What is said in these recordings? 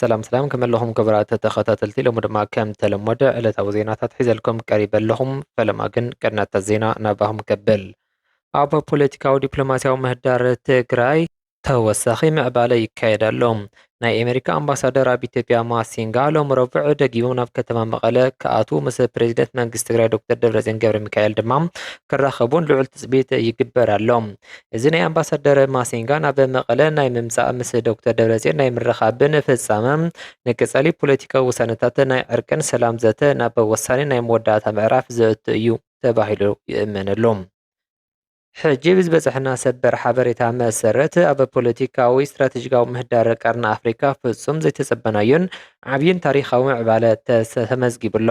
ሰላም ሰላም ከመይ ኣለኹም ክቡራት ተኸታተልቲ ሎሚ ድማ ከም ተለመደ ዕለታዊ ዜናታት ሒዘልኩም ቀሪበ ኣለኹ ፈለማ ግን ቅድመታ ዜና ናባኹም ከብል ኣብ ፖለቲካዊ ዲፕሎማስያዊ ምህዳር ትግራይ ተወሳኺ ምዕባለ ይካየድ ኣሎ ናይ ኣሜሪካ ኣምባሳደር ኣብ ኢትዮጵያ ማሲንጋ ሎሚ ረቡዕ ደጊሞም ናብ ከተማ መቐለ ክኣትዉ ምስ ፕሬዚደንት መንግስቲ ትግራይ ዶክተር ደብረፅዮን ገብረ ሚካኤል ድማ ክራኸቡን ልዑል ትፅቢት ይግበር ኣሎ እዚ ናይ ኣምባሳደር ማሲንጋ ናብ መቐለ ናይ ምምጻእ ምስ ዶክተር ደብረጽዮን ናይ ምርኻብን ፍጻመ ንቅጸሊ ፖለቲካዊ ውሳነታት ናይ ዕርቅን ሰላም ዘተ ናብ ወሳኒ ናይ መወዳእታ ምዕራፍ ዘእቱ እዩ ተባሂሉ ይእመነሉ። ሕጂ ብዝበጸሐና ሰበር ሓበሬታ መሰረት ኣብ ፖለቲካዊ ስትራቴጂካዊ ምህዳር ቀርኒ ኣፍሪካ ፍጹም ዘይተጸበናዮን ዓብይን ታሪኻዊ ምዕባለ ተመዝጊቡ ኣሎ።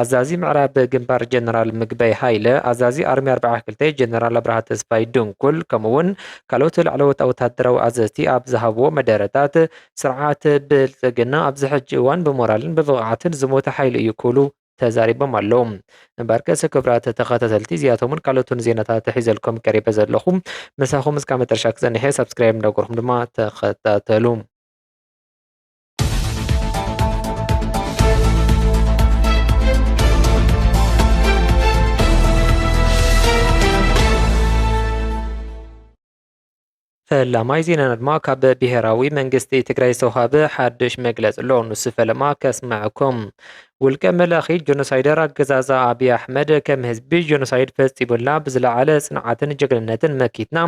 ኣዛዚ ምዕራብ ግንባር ጀነራል ምግበይ ሃይለ፣ ኣዛዚ ኣርሚ ኣርብዓ ክልተ ጀነራል ኣብርሃ ተስፋይ ድንኩል ከምኡ'ውን ካልኦት ላዕለዎት ወተሃደራዊ ኣዘዝቲ ኣብ ዝሃብዎ መደረታት፣ ስርዓት ብልጽግና ኣብዚ ሕጂ እዋን ብሞራልን ብብቕዓትን ዝሞተ ሓይሊ እዩ ክብሉ ተዛሪቦም ኣለዉ። እምበርከስ ክብራት ተኸታተልቲ እዚኣቶምን ካልኦትን ዜናታት ሒዘልኩም ቀሪበ ዘለኹ ምሳኹም እስካብ መጨረሻ ክጸንሕ እየ ሳብስክራይብ እንዳገርኩም ድማ ተኸታተሉ። ፈላማይ ዜናና ድማ ካብ ብሄራዊ መንግስቲ ትግራይ ዝተውሃበ ሓድሽ መግለፂ ኣሎ ንሱ ፈለማ ከስምዐኩም ውልቀ መላኺ ጆኖሳይደር ኣገዛዝኣ ኣብይ ኣሕመድ ከም ህዝቢ ጆኖሳይድ ፈፂሙልና ብዝለዓለ ፅንዓትን ጀግንነትን መኪትና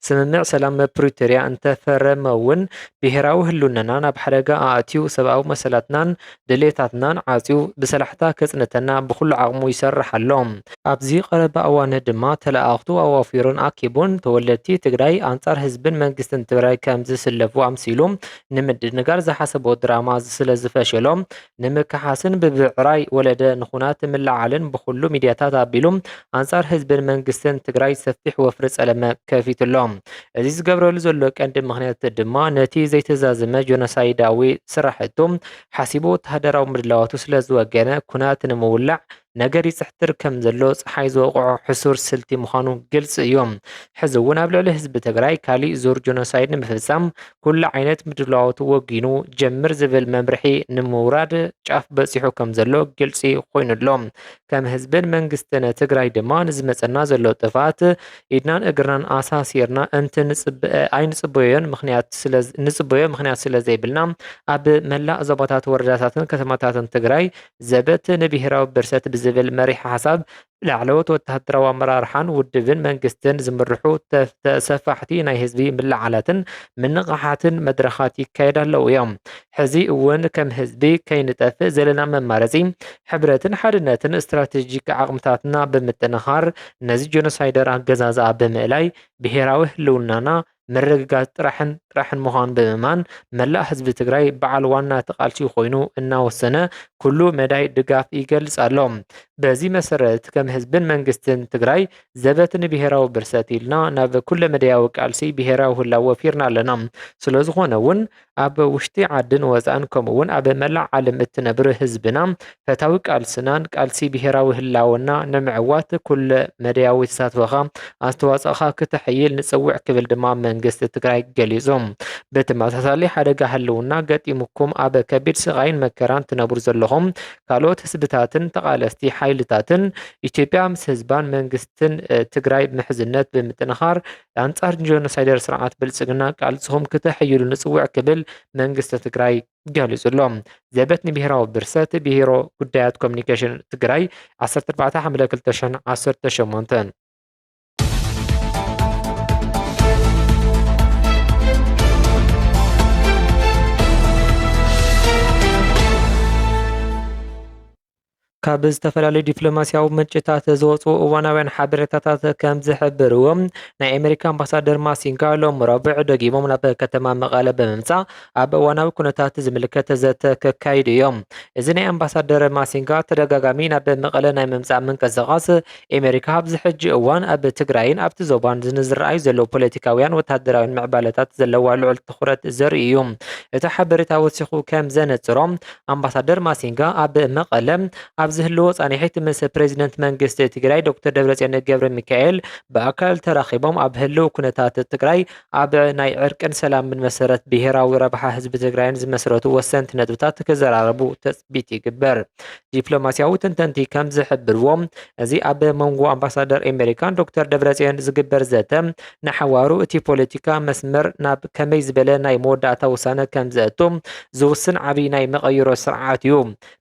ስምምዕ ሰላም ፕሪቶሪያ እንተፈረመ እውን ብሄራዊ ህልውናና ናብ ሓደጋ ኣእትዩ ሰብኣዊ መሰላትናን ድሌታትናን ዓፅዩ ብሰላሕታ ከፅንተና ብኹሉ ዓቕሙ ይሰርሕ ኣሎ። ኣብዚ ቀረባ እዋን ድማ ተለኣኣኽቱ ኣዋፊሩን ኣኪቡን ተወለድቲ ትግራይ ኣንፃር ህዝብን መንግስትን ትግራይ ከምዝስለፉ ኣምሲሉ ንምድንጋር ዝሓሰቦ ድራማ ስለዝፈሸሎ ንምክሓስን ብብዕራይ ወለደ ንኹናት ምልዕዓልን ብኹሉ ሚድያታት ኣቢሉ ኣንፃር ህዝብን መንግስትን ትግራይ ሰፊሕ ወፍሪ ፀለመ ከፊቱ ኣሎ። እዚ ዝገብረሉ ዘሎ ቀንዲ ምኽንያት ድማ ነቲ ዘይተዛዘመ ጆኖሳይዳዊ ስራሕቱ ሓሲቡ ወተሃደራዊ ምድላዋቱ ስለዝወገነ ኩናት ንምውላዕ ነገር ይጽሕትር ከም ዘሎ ፀሓይ ዝወቕዖ ሕሱር ስልቲ ምዃኑ ግልፂ እዩ። ሕዚ እውን ኣብ ልዕሊ ህዝቢ ትግራይ ካሊእ ዙር ጆኖሳይድ ንምፍፃም ኩሉ ዓይነት ምድላዋቱ ወጊኑ ጀምር ዝብል መምርሒ ንምውራድ ጫፍ በፂሑ ከም ዘሎ ግልፂ ኮይኑ ኣሎ። ከም ህዝብን መንግስትን ትግራይ ድማ ንዝመፀና ዘሎ ጥፍኣት ኢድናን እግርናን ኣሳሲርና እንት ኣይንፅበዮን ምክንያት ንፅበዮ ምክንያት ስለዘይብልና ኣብ መላእ ዞባታት ወረዳታትን ከተማታትን ትግራይ ዘበት ንብሄራዊ ብርሰት ብዝብል መሪሕ ሓሳብ ብላዕለዎት ወተሃደራዊ ኣመራርሓን ውድብን መንግስትን ዝምርሑ ሰፋሕቲ ናይ ህዝቢ ምልዓላትን ምንቕሓትን መድረኻት ይካየድ ኣለዉ እዮም። ሕዚ እውን ከም ህዝቢ ከይንጠፍእ ዘለና መማረፂ ሕብረትን ሓድነትን ስትራቴጂክ ዓቕምታትና ብምጥንኻር ነዚ ጆኖሳይደር ኣገዛዝኣ ብምእላይ ብሄራዊ ህልውናና ምርግጋፅ ጥራሕን ጥራሕን ምዃኑ ብምእማን መላእ ህዝቢ ትግራይ በዓል ዋና ተቓልሲ ኮይኑ እናወሰነ ኩሉ መዳይ ድጋፍ ይገልፅ ኣሎ። በዚ መሰረት ከም ህዝብን መንግስትን ትግራይ ዘበት ንብሄራዊ ብርሰት ኢልና ናብ ኩለመዳያዊ ቃልሲ ብሄራዊ ህላወ ወፊርና ኣለና። ስለዝኾነ እውን ኣብ ውሽጢ ዓድን ወፃእን ከምኡ እውን ኣብ መላእ ዓለም እትነብር ህዝብና ፈታዊ ቃልስናን ቃልሲ ብሄራዊ ህላወና ንምዕዋት ኩለ መደያዊ ተሳትፎኻ ኣስተዋፅኦኻ ክተሐይል ንፅውዕ ክብል ድማ መንግስቲ ትግራይ ገሊፁ። ብተመሳሳሊ ሓደጋ ህልውና ገጢሙኩም ኣብ ከቢድ ስቓይን መከራን ትነብሩ ዘለኹም ካልኦት ህዝብታትን ተቓለስቲ ሓይልታትን ኢትዮጵያ ምስ ህዝባን መንግስትን ትግራይ ምሕዝነት ብምጥንኻር ኣንጻር ጆኖሳይደር ስርዓት ብልጽግና ቃልስኹም ክተሐይሉ ንጽውዕ ክብል መንግስቲ ትግራይ ገሊጹ ኣሎ። ዘበት ንብሔራዊ ብርሰት ብሔሮ ጉዳያት ኮሚኒኬሽን ትግራይ 14 ሓምለ 2018 Thank you. ካብ ዝተፈላለዩ ዲፕሎማሲያዊ ምንጭታት ዝወፁ እዋናውያን ሓበሬታታት ከም ዝሕብርዎ ናይ ኣሜሪካ ኣምባሳደር ማሲንጋ ሎም ረቡዕ ደጊሞም ናብ ከተማ መቐለ ብምምፃእ ኣብ እዋናዊ ኩነታት ዝምልከት ዘተ ከካይዱ እዮም። እዚ ናይ ኣምባሳደር ማሲንጋ ተደጋጋሚ ናብ መቐለ ናይ ምምፃእ ምንቅስቓስ ኤመሪካ ኣብዚ ሕጂ እዋን ኣብ ትግራይን ኣብቲ ዞባን ንዝረኣዩ ዘለዉ ፖለቲካውያን ወተሃደራውያን ምዕባለታት ዘለዋ ልዑል ትኹረት ዘርኢ እዩ። እቲ ሓበሬታ ወሲኹ ከም ዘነጽሮ፣ ኣምባሳደር ማሲንጋ ኣብ መቐለ ኣብ ዝህልዎ ጻንሒት ምስ ፕረዚደንት መንግስቲ ትግራይ ዶክተር ደብረጽዮን ገብረሚካኤል ብኣካል ተራኺቦም ኣብ ህልው ኩነታት ትግራይ ኣብ ናይ ዕርቅን ሰላምን መሰረት ብሄራዊ ረብሓ ህዝቢ ትግራይን ዝመስረቱ ወሰንቲ ነጥብታት ክዘራረቡ ትፅቢት ይግበር። ዲፕሎማሲያዊ ተንተንቲ ከም ዝሕብርዎ እዚ ኣብ መንጎ ኣምባሳደር ኣሜሪካን ዶክተር ደብረፅዮን ዝግበር ዘተ ንሓዋሩ እቲ ፖለቲካ መስመር ናብ ከመይ ዝበለ ናይ መወዳእታ ውሳነ ከም ዘእቱ ዝውስን ዓብይ ናይ መቐይሮ ስርዓት እዩ።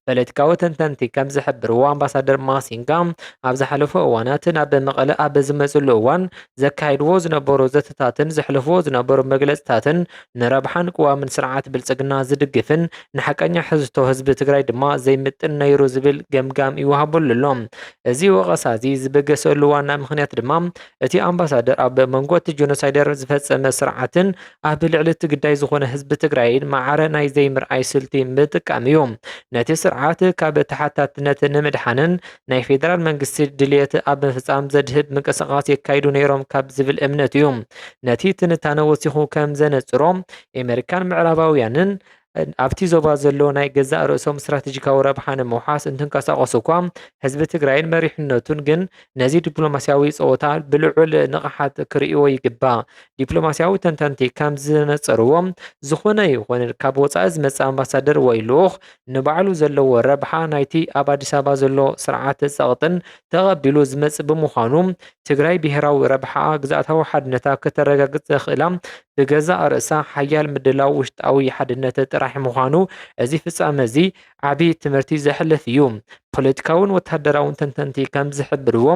ፖለቲካዊ ተንተንቲ ከም ዝሕብርዎ ኣምባሳደር ማሲንጋ ኣብ ዝሓለፉ እዋናት ናብ መቐለ ኣብ ዝመፅሉ እዋን ዘካይድዎ ዝነበሩ ዘተታትን ዘሕልፍዎ ዝነበሩ መግለፅታትን ንረብሓን ቅዋምን ስርዓት ብልፅግና ዝድግፍን ንሓቀኛ ሕዝቶ ህዝቢ ትግራይ ድማ ዘይምጥን ነይሩ ዝብል ገምጋም ይወሃበሉ ኣሎ። እዚ ወቐሳ እዚ ዝበገሰሉ ዋና ምኽንያት ድማ እቲ ኣምባሳደር ኣብ መንጎ እቲ ጆኖሳይደር ዝፈፀመ ስርዓትን ኣብ ልዕሊ እቲ ግዳይ ዝኾነ ህዝቢ ትግራይን ማዕረ ናይ ዘይምርኣይ ስልቲ ምጥቃም እዩ። ነቲ ስርዓት ካብ ተሓታትነት ንምድሓንን ናይ ፌደራል መንግስቲ ድልየት ኣብ ምፍፃም ዘድህብ ምንቅስቓስ የካይዱ ነይሮም ካብ ዝብል እምነት እዩ። ነቲ ትንታነ ወሲኹ ከም ዘነፅሮ ኤመሪካን ምዕራባውያንን ኣብቲ ዞባ ዘሎ ናይ ገዛእ ርእሶም ስትራቴጂካዊ ረብሓ ንምውሓስ እንትንቀሳቐሱ እኳ ህዝቢ ትግራይን መሪሕነቱን ግን ነዚ ዲፕሎማስያዊ ፀወታ ብልዑል ንቕሓት ክርእይዎ ይግባእ። ዲፕሎማስያዊ ተንተንቲ ከም ዝነፀርዎ ዝኾነ ይኹን ካብ ወፃኢ ዝመፅእ ኣምባሳደር ወይ ልኡኽ ንባዕሉ ዘለዎ ረብሓ ናይቲ ኣብ ኣዲስ ኣበባ ዘሎ ስርዓት ፀቕጥን ተቐቢሉ ዝመፅእ ብምዃኑ ትግራይ ብሄራዊ ረብሓኣ ግዝኣታዊ ሓድነታ ክተረጋግፅ ዘኽእላ ብገዛእ ርእሳ ሓያል ምድላው ውሽጣዊ ሓድነት ጥራሕ ምዃኑ እዚ ፍጻመ እዚ ዓቢ ትምህርቲ ዘሕልፍ እዩ። ፖለቲካውን ወተሃደራውን ተንተንቲ ከም ዝሕብርዎ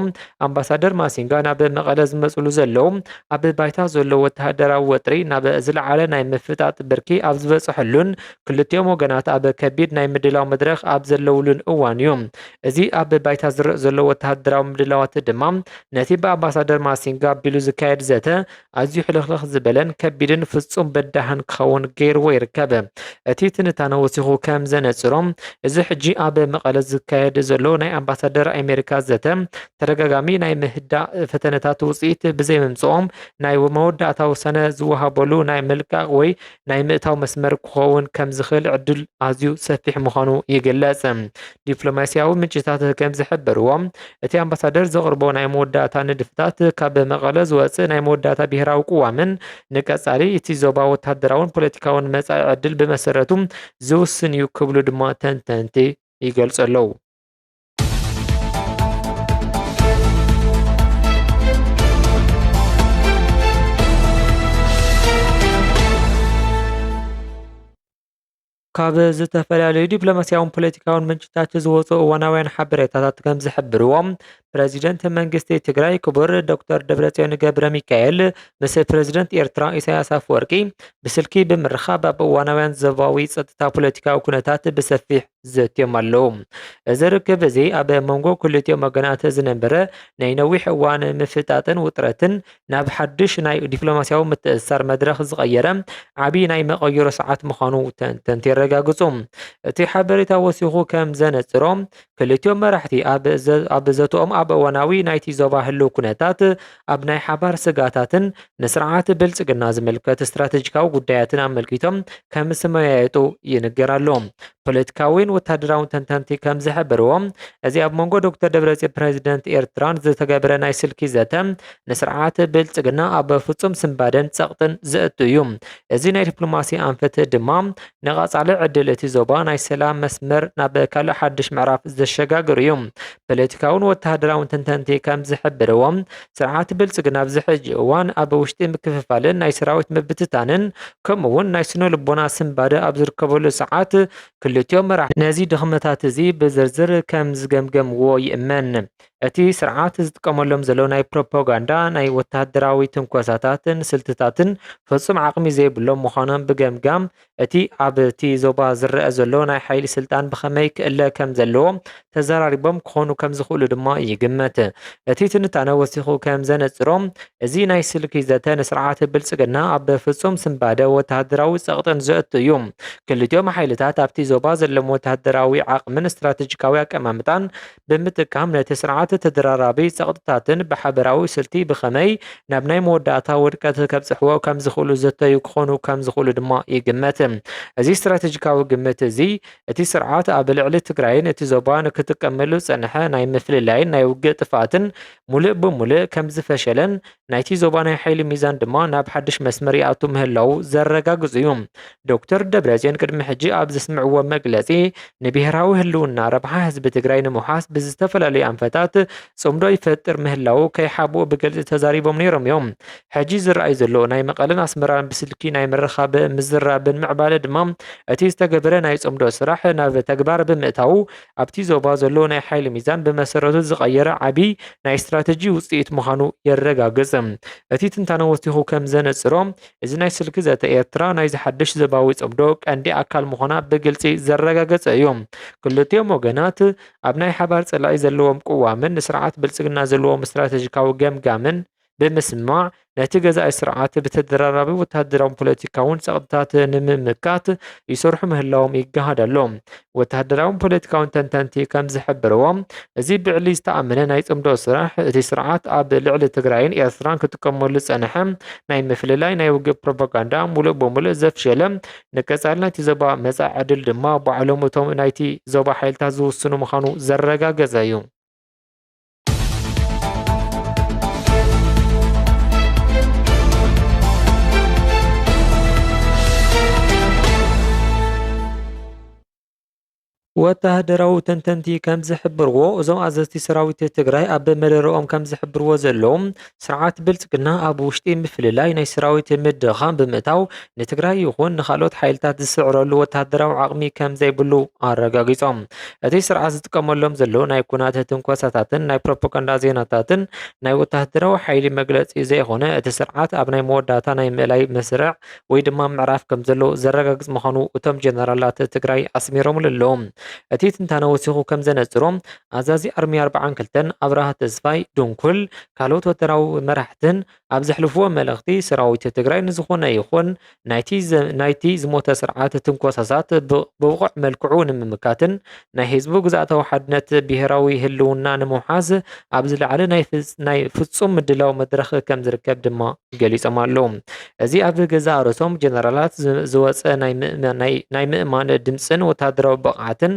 ኣምባሳደር ማሲንጋ ናብ መቐለ ዝመጽሉ ዘለዉ ኣብ ባይታ ዘሎ ወተሃደራዊ ወጥሪ ናብ ዝለዓለ ናይ ምፍጣጥ ብርኪ ኣብ ዝበጽሐሉን ክልቲኦም ወገናት ኣብ ከቢድ ናይ ምድላው መድረኽ ኣብ ዘለውሉን እዋን እዩ። እዚ ኣብ ባይታ ዝረእ ዘሎ ወተሃደራዊ ምድላዋት ድማ ነቲ ብኣምባሳደር ማሲንጋ ኣቢሉ ዝካየድ ዘተ ኣዝዩ ሕልኽልኽ ዝበለን ከቢድን ፍጹም በዳህን ክኸውን ገይርዎ ይርከብ። እቲ ትንታነ ወሲኹ ከም ዘነጽሮ፣ እዚ ሕጂ ኣብ መቐለ ዝካየድ ዘሎ ናይ ኣምባሳደር ኣሜሪካ ዘተ፣ ተደጋጋሚ ናይ ምህዳእ ፈተነታት ውጽኢት ብዘይምምጽኦም፣ ናይ መወዳእታ ውሳነ ዝወሃበሉ ናይ ምልቃቕ ወይ ናይ ምእታው መስመር ክኸውን ከም ዝኽእል ዕድል ኣዝዩ ሰፊሕ ምዃኑ ይግለጽ። ዲፕሎማስያዊ ምንጭታት ከም ዝሕብርዎ፣ እቲ ኣምባሳደር ዘቕርቦ ናይ መወዳእታ ንድፍታት ካብ መቐለ ዝወጽእ ናይ መወዳእታ ብሄራዊ ቅዋምን ንቀጻሊ እቲ ዞባ ወተሃደራውን ፖለቲካውን መጻኢ ዕድል ብመሰረቱ ዝውስን እዩ ክብሉ ድማ ተንተንቲ ይገልጹ ኣለዉ። ካብ ዝተፈላለዩ ዲፕሎማስያውን ፖለቲካውን ምንጭታት ዝወፁ እዋናውያን ሓበሬታታት ከም ዝሕብርዎ ፕረዚደንት መንግስቲ ትግራይ ክቡር ዶክተር ደብረፅዮን ገብረ ሚካኤል ምስ ፕረዚደንት ኤርትራ ኢሳያስ ኣፈወርቂ ብስልኪ ብምርኻብ ኣብ እዋናውያን ዞባዊ ፀጥታ ፖለቲካዊ ኩነታት ብሰፊሕ ዘትዮም ኣለዉ። እዚ ርክብ እዚ ኣብ መንጎ ክልቲኦም ወገናት ዝነበረ ናይ ነዊሕ እዋን ምፍጣጥን ውጥረትን ናብ ሓድሽ ናይ ዲፕሎማስያዊ ምትእስሳር መድረኽ ዝቐየረ ዓብዪ ናይ መቐይሮ ሰዓት ምዃኑ ተንተንቲ የረጋግጹ። እቲ ሓበሬታ ወሲኹ ከም ዘነጽሮ፣ ክልቲኦም መራሕቲ ኣብ ዘተኦም ኣብ እዋናዊ ናይቲ ዞባ ህልው ኩነታት ኣብ ናይ ሓባር ስግኣታትን ንስርዓት ብልጽግና ዝምልከት ስትራቴጂካዊ ጉዳያትን ኣመልኪቶም ከም ዝመያየጡ ይንገር ኣሎ። ፖለቲካዊን ወታደራውን ተንተንቲ ከም ዝሕብርዎ እዚ ኣብ መንጎ ዶክተር ደብረጽዮን ፕረዚደንት ኤርትራን ዝተገብረ ናይ ስልኪ ዘተ ንስርዓት ብልጽግና ኣብ ፍጹም ስንባደን ጸቕጥን ዘእቱ እዩ። እዚ ናይ ዲፕሎማሲ ኣንፈት ድማ ንቐጻሊ ዕድል እቲ ዞባ ናይ ሰላም መስመር ናብ ካልእ ሓድሽ ምዕራፍ ዘሸጋግር እዩ። ፖለቲካውን ወተሃደራውን ተንተንቲ ከም ዝሕብርዎ ስርዓት ብልፅግና ኣብዚ ሕጂ እዋን ኣብ ውሽጢ ምክፍፋልን ናይ ሰራዊት ምብትታንን ከምኡ እውን ናይ ስነ ልቦና ስንባደ ኣብ ዝርከበሉ ሰዓት ክልቲኦም መራሕቲ ነዚ ድኽመታት እዚ ብዝርዝር ከም ዝገምገምዎ ይእመን። እቲ ስርዓት ዝጥቀመሎም ዘሎ ናይ ፕሮፓጋንዳ፣ ናይ ወተሃደራዊ ትንኮሳታትን ስልትታትን ፍፁም ዓቕሚ ዘይብሎም ምዃኖም ብገምጋም እቲ ኣብቲ ዞባ ዝረኣ ዘሎ ናይ ሓይሊ ስልጣን ብኸመይ ክእለ ከም ዘለዎ ተዘራሪቦም ክኾኑ ከም ዝኽእሉ ድማ ይግመት። እቲ ትንታነ ወሲኹ ከም ዘነጽሮ፣ እዚ ናይ ስልኪ ዘተ ንስርዓት ብልጽግና ኣብ ፍጹም ስንባደ ወተሃደራዊ ጸቕጥን ዘእቱ እዩ። ክልቲኦም ሓይልታት ኣብቲ ዞባ ዘለዎም ወተሃደራዊ ዓቕምን ስትራተጂካዊ ኣቀማምጣን ብምጥቃም ነቲ ስርዓት ተደራራቢ ጸቕጥታትን ብሓበራዊ ስልቲ ብኸመይ ናብ ናይ መወዳእታ ውድቀት ከብጽሕዎ ከም ዝኽእሉ ዝዘተዩ ክኾኑ ከም ዝኽእሉ ድማ ይግመት። እዚ ስትራተጂካዊ ግምት እዚ፣ እቲ ስርዓት ኣብ ልዕሊ ትግራይን እቲ ዞባን ክጥቀመሉ ዝጸንሐ ናይ ምፍልላይን ናይ ውግእ ጥፍኣትን ምሉእ ብምሉእ ከም ዝፈሸለን ናይቲ ዞባ ናይ ሓይሊ ሚዛን ድማ ናብ ሓድሽ መስመር ይኣቱ ምህላዉ ዘረጋግጹ እዩ። ዶክተር ደብረጽዮን ቅድሚ ሕጂ ኣብ ዘስምዕዎ መግለጺ ንብሄራዊ ህልውና ረብሓ ህዝቢ ትግራይ ንምውሓስ ብዝተፈላለዩ ኣንፈታት ጽምዶ ይፈጥር ምህላዉ ከይሓብኡ ብግልጺ ተዛሪቦም ነይሮም እዮም። ሕጂ ዝረኣይ ዘሎ ናይ መቐለን ኣስመራን ብስልኪ ናይ ምርኻብ ምዝራብን ምዕባለ ድማ እቲ ዝተገበረ ናይ ጽምዶ ስራሕ ናብ ተግባር ብምእታዉ ኣብቲ ዞባ ዘሎ ናይ ሓይሊ ሚዛን ብመሰረቱ ዝቐየረ ዓቢ ናይ ስትራተጂ ውጽኢት ምዃኑ የረጋግጽ። እቲ ትንታነ ወሲኹ ከም ዘነጽሮ፣ እዚ ናይ ስልኪ ዘተ ኤርትራ ናይዚ ሓድሽ ዞባዊ ጽምዶ ቀንዲ ኣካል ምዃና ብግልጺ ዘረጋገጸ እዩ። ክልቲኦም ወገናት ኣብ ናይ ሓባር ጸላኢ ዘለዎም ቅዋምን ንስርዓት ብልጽግና ዘለዎም ስትራተጂካዊ ገምጋምን ብምስማዕ ነቲ ገዛኢ ስርዓት ብተደራራቢ ወተሃደራውን ፖለቲካውን ጸቕጥታት ንምምካት ይሰርሑ ምህላዎም ይገሃድ ኣሎ። ወተሃደራውን ፖለቲካውን ተንተንቲ ከም ዝሕብርዎ እዚ ብዕሊ ዝተኣመነ ናይ ጽምዶ ስራሕ እቲ ስርዓት ኣብ ልዕሊ ትግራይን ኤርትራን ክጥቀመሉ ዝጸንሐ ናይ ምፍልላይ ናይ ውግእ ፕሮፓጋንዳ ሙሉእ ብሙሉእ ዘፍሸለ ንቀጻሊ ናይቲ ዞባ መጻኢ ዕድል ድማ ባዕሎም እቶም ናይቲ ዞባ ሓይልታት ዝውስኑ ምዃኑ ዘረጋገጸ እዩ። ወተሃደራዊ ተንተንቲ ከም ዝሕብርዎ እዞም ኣዘዝቲ ሰራዊት ትግራይ ኣብ መደረኦም ከም ዝሕብርዎ ዘለዉ ስርዓት ብልፅግና ኣብ ውሽጢ ምፍልላይ ናይ ሰራዊት ምድኻም ብምእታው ንትግራይ ይኹን ንካልኦት ሓይልታት ዝስዕረሉ ወታደራዊ ዓቕሚ ከም ዘይብሉ ኣረጋጊፆም። እቲ ስርዓት ዝጥቀመሎም ዘሎ ናይ ኩናት ትንኮሳታትን ናይ ፕሮፓጋንዳ ዜናታትን ናይ ወታደራዊ ሓይሊ መግለፂ ዘይኾነ እቲ ስርዓት ኣብ ናይ መወዳእታ ናይ ምእላይ መስርዕ ወይ ድማ ምዕራፍ ከም ዘሎ ዘረጋግፅ ምዃኑ እቶም ጀነራላት ትግራይ ኣስሚሮምሉ ኣለው። እቲ ትንታነ ወሲኹ ከም ዘነፅሮ ኣዛዚ ኣርሚ ኣርብዓን ክልተን ኣብርሃ ተስፋይ፣ ድንኩል፣ ካልኦት ወተራዊ መራሕትን ኣብ ዘሕልፍዎ መልእኽቲ ሰራዊት ትግራይ ንዝኾነ ይኹን ናይቲ ዝሞተ ስርዓት ትንኮሳሳት ብብቑዕ መልክዑ ንምምካትን ናይ ህዝቡ ግዝኣታዊ ሓድነት ብሄራዊ ህልውና ንምውሓስ ኣብ ዝለዓለ ናይ ፍፁም ምድላው መድረኽ ከምዝርከብ ድማ ገሊፆም ኣለው። እዚ ኣብ ገዛእ ርእሶም ጀነራላት ዝወፀ ናይ ምእማን ድምፅን ወታደራዊ ብቕዓትን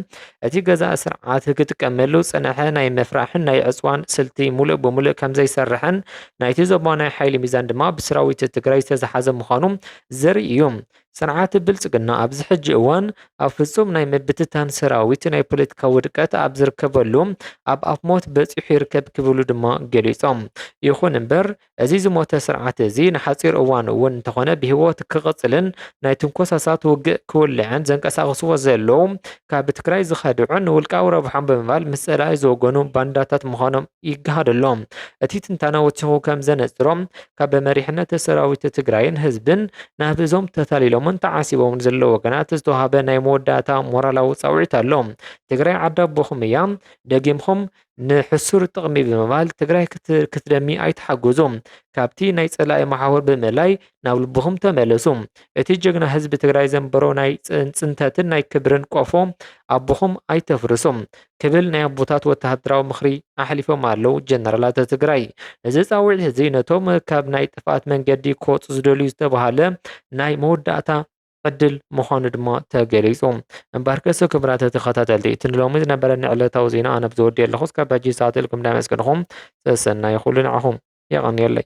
እቲ ገዛኢ ስርዓት ክጥቀመሉ ዝጸነሐ ናይ ምፍራሕን ናይ ዕጽዋን ስልቲ ሙሉእ ብሙሉእ ከምዘይሰርሕን ናይቲ ዞባ ናይ ሓይሊ ሚዛን ድማ ብስራዊት ትግራይ ዝተዝሓዘ ምዃኑ ዘርኢ እዩ። ስርዓት ብልጽግና ኣብዚ ሕጂ እዋን ኣብ ፍጹም ናይ ምብትታን ሰራዊት ናይ ፖለቲካ ውድቀት ኣብ ዝርከበሉ ኣብ ኣፍ ሞት በጺሑ ይርከብ ክብሉ ድማ ገሊጾም። ይኹን እምበር እዚ ዝሞተ ስርዓት እዚ ንሓጺር እዋን እውን እንተኾነ ብህይወት ክቕጽልን ናይ ትንኮሳሳት ውግእ ክውልዕን ዘንቀሳቕስዎ ዘለዉ ካብ ትግራይ ዝኸድዑን ንውልቃዊ ረብሖም ብምባል ምስ ጸላኢ ዝወገኑ ባንዳታት ምዃኖም ይገሃድ ኣሎ። እቲ ትንታነ ወሲኹ ከም ዘነጽሮ ካብ መሪሕነት ሰራዊት ትግራይን ህዝብን ናብ እዞም ተታሊሎምን ተዓሲቦምን ዘለዉ ወገናት ዝተውሃበ ናይ መወዳእታ ሞራላዊ ጻውዒት ኣሎ። ትግራይ ዓዲ ኣቦኹም እያ። ደጊምኩም ንሕሱር ጥቕሚ ብምባል ትግራይ ክትደሚ ኣይትሓጎዙ ካብቲ ናይ ፀላኢ መሓውር ብምእላይ ናብ ልብኹም ተመለሱ እቲ ጀግና ህዝቢ ትግራይ ዘንበሮ ናይ ፅንተትን ናይ ክብርን ቆፎ ኣቦኹም ኣይተፍርሱ ክብል ናይ ኣቦታት ወተሃደራዊ ምኽሪ ኣሕሊፎም ኣለው ጀነራላት ትግራይ እዚ ፃውዒት እዚ ነቶም ካብ ናይ ጥፍኣት መንገዲ ክወፁ ዝደልዩ ዝተባሃለ ናይ መወዳእታ ዕድል ምዃኑ ድማ ተገሊጹ። እምበርከስ ክብራት ተኸታተልቲ እቲ ንሎሚ ዝነበረኒ ዕለታዊ ዜና ኣነብ ዘወድየ ኣለኹ እስካብ ሕጂ ዝሰዓተልኩም ዳመስገንኹም ሰሰናዩ ኩሉ ንዓኹም የቐንየለይ።